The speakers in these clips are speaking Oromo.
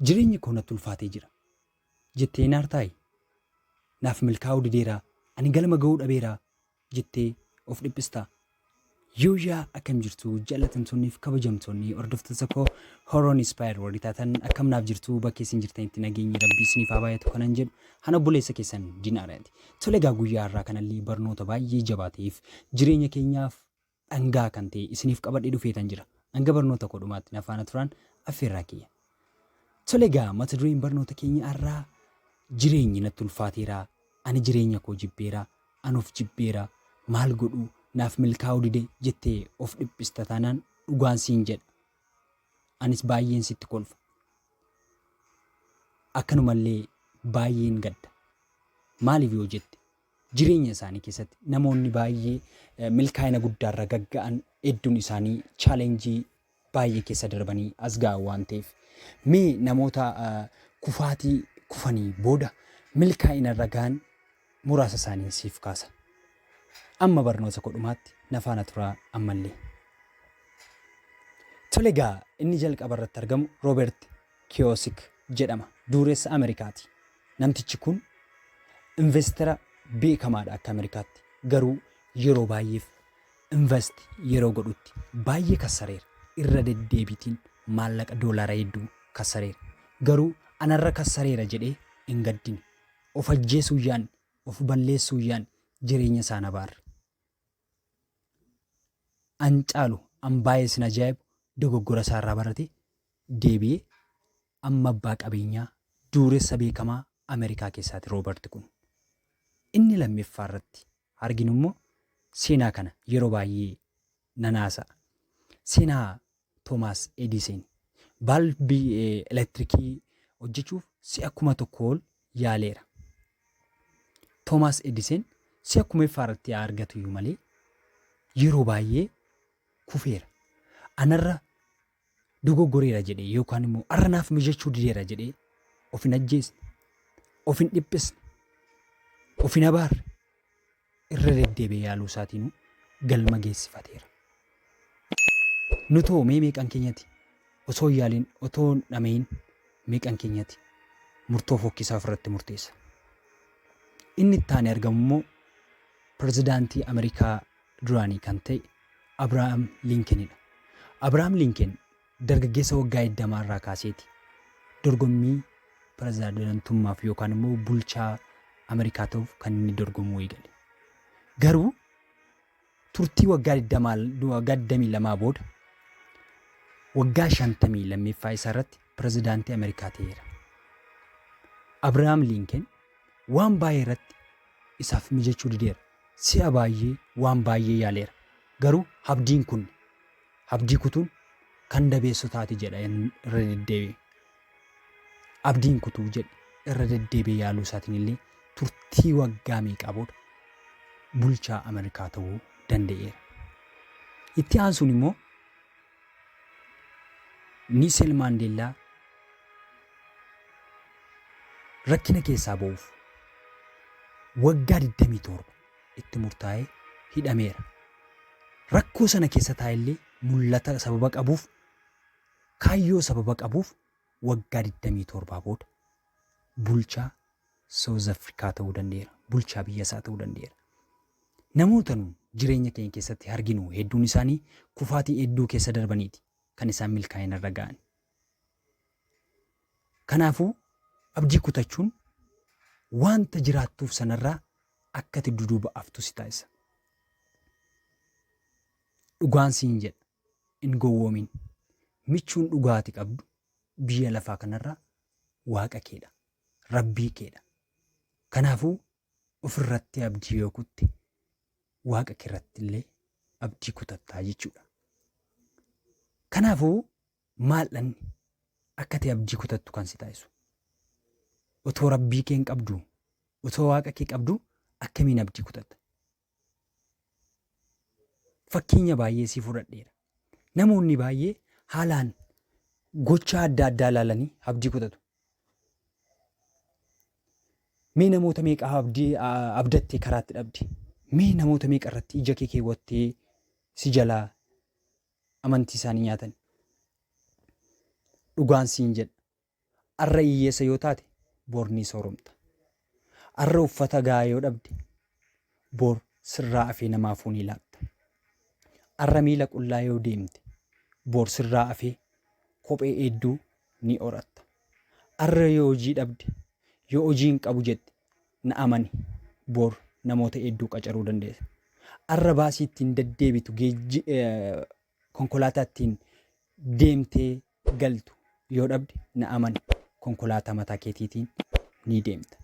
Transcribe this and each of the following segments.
Jireenyi koo natti ulfaatee jira. Jettee hin aartaayi? Naaf milkaa'uu dideera, ani galma ga'uu dhabeera jettee of dhiphistaa? Yooyaa akkam jirtu jaallatamtoonni fi kabajamtoonni hordoftoota koo Horoon Inspire warri taatan akkam naaf jirtu bakka isin jirtanitti nageenyi rabbii isiniif haa baay'atu kanan jedhu ana obboleessa keessan Dinaaraati. Tole egaa guyyaa har'aa kanallee barnoota baay'ee jabaa ta'eef jireenya keenyaaf dhangaa kan ta'e isiniif qabadhee dhufeetan jira. Hanga barnoota koo dhumaatti na faana turaan affeerraa kiyya. Tole egaa mata dureen barnoota keenya har'aa jireenyi natti ulfaateera, ani jireenya koo jibbeera, an of jibbeera, maal godhu naaf milkaa'uu dide jettee of dhiphista taanaan dhugaan siin jedha. Anis baay'een sitti kolfa. Akkanumallee baay'een gadda. Maaliif yoo jette Jireenya isaanii keessatti namoonni baay'ee milkaa'ina guddaarra gagga'an hedduun isaanii chaalenjii baay'ee keessa darbanii as ga'an waan ta'eef mee namoota kufaatii kufanii booda milkaa'inarra ga'an muraasa isaaniin siif kaasa. Amma barnoota koo dhumaatti na faana turaa ammallee. Tole egaa inni jalqaba irratti argamu Roobert Kiyoosik jedhama. Dureessa Ameerikaati. Namtichi kun investera beekamaadha akka Amerikaatti. Garuu yeroo baay'eef invest yeroo godhutti baay'ee kassareera. Irra deddeebiitiin maallaqa doolaara hedduu kassareera. Garuu anarra kassareera jedhee hin gaddine. Of ajjeesuu yaadne, of balleessuu yaadne jireenya isaan abaarre. An caalu an baay'ee isin ajaa'ibu dogoggora isaarraa baratee deebi'e amma abbaa qabeenyaa duuressa beekamaa Amerikaa keessaati Roobart kun. Inni lammeffaa irratti arginu immoo seenaa kana yeroo baay'ee nan haasa'a. Seenaa Toomaas Ediiseen baalbii elektirikii hojjechuuf si'a kuma tokko ol yaaleera. Toomaas Ediiseen si'a kumeeffaa irratti haa argatu iyyuu malee yeroo baay'ee kufeera. Anarra dogoggoreera jedhee yookaan immoo arra naaf mijachuu dideera jedhee of hin ajjeesne, of hin dhiphisne, of hin abaarre irra deddeebi'ee yaaluu isaatiinuu galma geessifateera. Nutoo mee meeqan keenyati osoo hin yaaliin otoo hin dhama'iin meeqan keenyati murtoo fokkisaa ofirratti murteessa. Inni itti aanee argamu immoo pirezidaantii Ameerikaa duraanii kan ta'e Abrahaam Liinkenidha. Abrahaam Liinken dargaggeessa waggaa 20 irraa kaaseeti dorgommii pirezidaantummaaf yookaan immoo bulchaa Ameerikaa ta'uuf kan inni dorgomuu eegale. Garuu turtii waggaa 20 waggaa 22 booda waggaa 50 lammeeffaa isaa irratti pirezidaantii Ameerikaa ta'eera. Abrahaam Liinken waan baay'ee irratti isaaf mijachuu dideera. Si'a baay'ee waan baay'ee yaaleera. Garuu abdiin kun, abdii kutuun kan dabeessotaati jedha irra deddeebi'ee. Abdiin kutuu jedhe irra deddeebi'ee yaaluu isaatiin illee turtii waggaa meeqaa booda bulchaa Ameerikaa ta'uu danda'eera. Itti aansuun immoo Niisel Maandeellaa rakkina keessaa ba'uuf waggaa 27 itti murtaa'ee hidhameera. Rakkoo sana keessa taa'ellee mul'ata sababa qabuuf kaayyoo sababa qabuuf waggaa 27 booda bulchaa South Africa ta'uu danda'eera. Bulchaa biyya isaa ta'uu danda'eera. Namoota nu jireenya keenya keessatti arginu hedduun isaanii kufaatii hedduu keessa darbaniiti kan isaan milkaa'ina irra ga'an. Kanaafuu abdii kutachuun wanta jiraattuuf sanarraa akka ati duduuba aftu si taasisa. Dhugaan siin jedha hin gowwoomin. Michuun dhugaati qabdu biyya lafaa kanarraa waaqa keedha. Rabbii keedha. Kanaafuu ofirratti abdii yoo kutte waaqa keerratti illee abdii kutattaa jechuudha. Kanaafuu maaldhanni akka ta'e abdii kutattu kan si taasisu. Otoo rabbii kee hin qabdu, otoo waaqa kee qabdu akkamiin abdii kutatta? Fakkeenya baay'ee sii fudhadheera. Namoonni baay'ee haalaan gochaa adda addaa ilaalanii abdii kutatu. Mee namoota meeqa abdii abdattee karaatti dhabde? Mee namoota meeqa irratti ija kee keewwattee si jalaa amantii isaanii nyaatan? Dhugaan siin jedha. Arra iyyeessa yoo taate bor ni sooromta. Arra uffata gahaa yoo dhabde bor sirraa afee namaafuu ni laatta. Arra miila qullaa yoo deemte bor sirraa afee kophee eedduu ni horatta. Arra yoo hojii dhabde yoo hojii hin qabu jette na amani bor namoota eedduu qacaruu dandeessa. Arra baasii ittiin deddeebitu geejji konkolaataa ittiin deemtee galtu yoo dhabde na amani konkolaataa mataa keetiitiin ni deemta.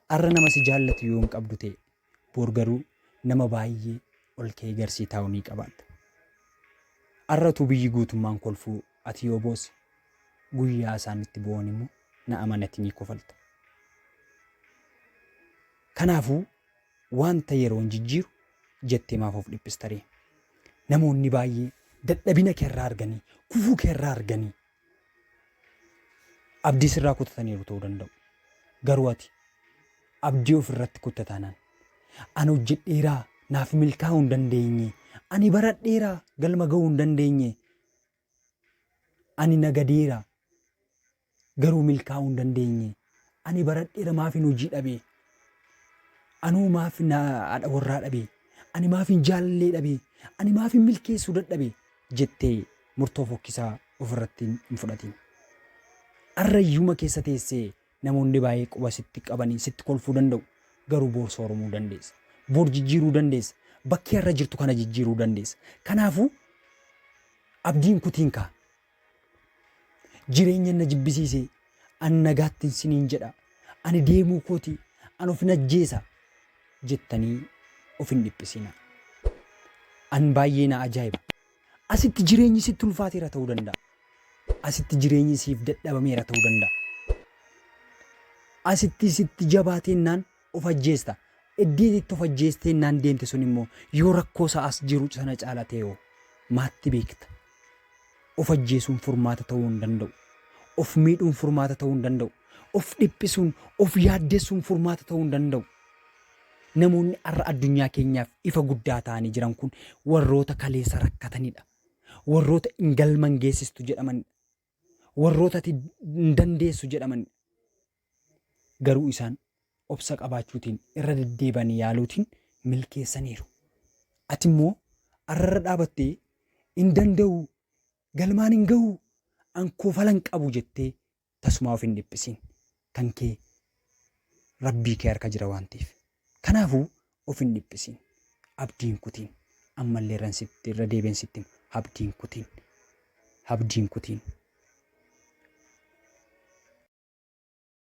Arra nama si jaallatu yoo hin qabdu ta'e boor garuu nama baay'ee ol ka'ee garsii taa'u ni qabaatta. Arra utuu biyyi guutummaan kolfuu ati yoo boosse guyyaa isaan itti boo'an immoo na amani ati ni kofalta. Kanaafuu Wanta yeroon jijjiiru jettee maaf of dhiphistaree? Namoonni baay'ee dadhabina keerraa arganii, kufuu keerraa arganii abdii sirraa kutataniiru ta'uu danda'u. Garuu ati abdii ofirratti kutte taanaan ani hojjedheeraa naaf milkaa'uu hin dandeenye, ani baradheeraa galma ga'uu hin dandeenye Ani nagadeera, garuu milkaa'uu hin dandeenye. Ani baradheera maafin hojii dhabe? Anoo maaf na haadha warraa dhabe? Ani maafin jaalallee dhabe? Ani maafin milkeessuu dadhabe? jettee murtoo fokkisaa ofirratti hin fudhatin. Arrayyuma keessa teessee Namoonni baay'ee quba sitti qabanii sitti kolfuu danda'u, garuu boor sooromuu dandeessa. Boor jijjiiruu dandeessa. Bakki har'a jirtu kana jijjiiruu dandeessa. Kanaafuu abdii hin kutiin kaa. Jireenya na jibbisiise, an nagaattin siniin jedha, ani deemuu kooti, an ofin ajjeesa jettanii of hin dhiphisinaa. An baay'ee na ajaa'iba. Asitti jireenyi sitti ulfaateera ta'uu danda'a. Asitti jireenyi siif dadhabameera ta'uu danda'a. Asitti sitti jabaateennaan of ajjeesta. Iddii itti of ajjeesteennaan deemte sun immoo yoo rakkoo isaa as jiru sana caala ta'e hoo maatti beekta. Of ajjeesuun furmaata ta'uu hin danda'u. Of miidhuun furmaata ta'uu hin danda'u. Of dhiphisuun, of yaaddessuun furmaata ta'uu hin danda'u. Namoonni har'a addunyaa keenyaaf ifa guddaa ta'anii jiran kun warroota kaleessa rakkatanidha. Warroota hin galma hin geessistu jedhamanidha. Warroota ati hin dandeessu jedhamanidha. Garuu isaan obsa qabaachuutiin irra deddeebanii yaaluutiin milkeessaniiru. Ati immoo har'a irra dhaabattee hin danda'u, galmaan hin ga'u, an kofala hin qabu jettee Tasumaa of hin dhiphisiin. Kan kee Rabbii kee harka jira waan ta'eef. Kanaafuu of hin dhiphisiin. Abdii hin kutiin. Ammallee irran sitti irra deebi'een sitti hima. Abdii hin kutiin. Abdii hin kutiin.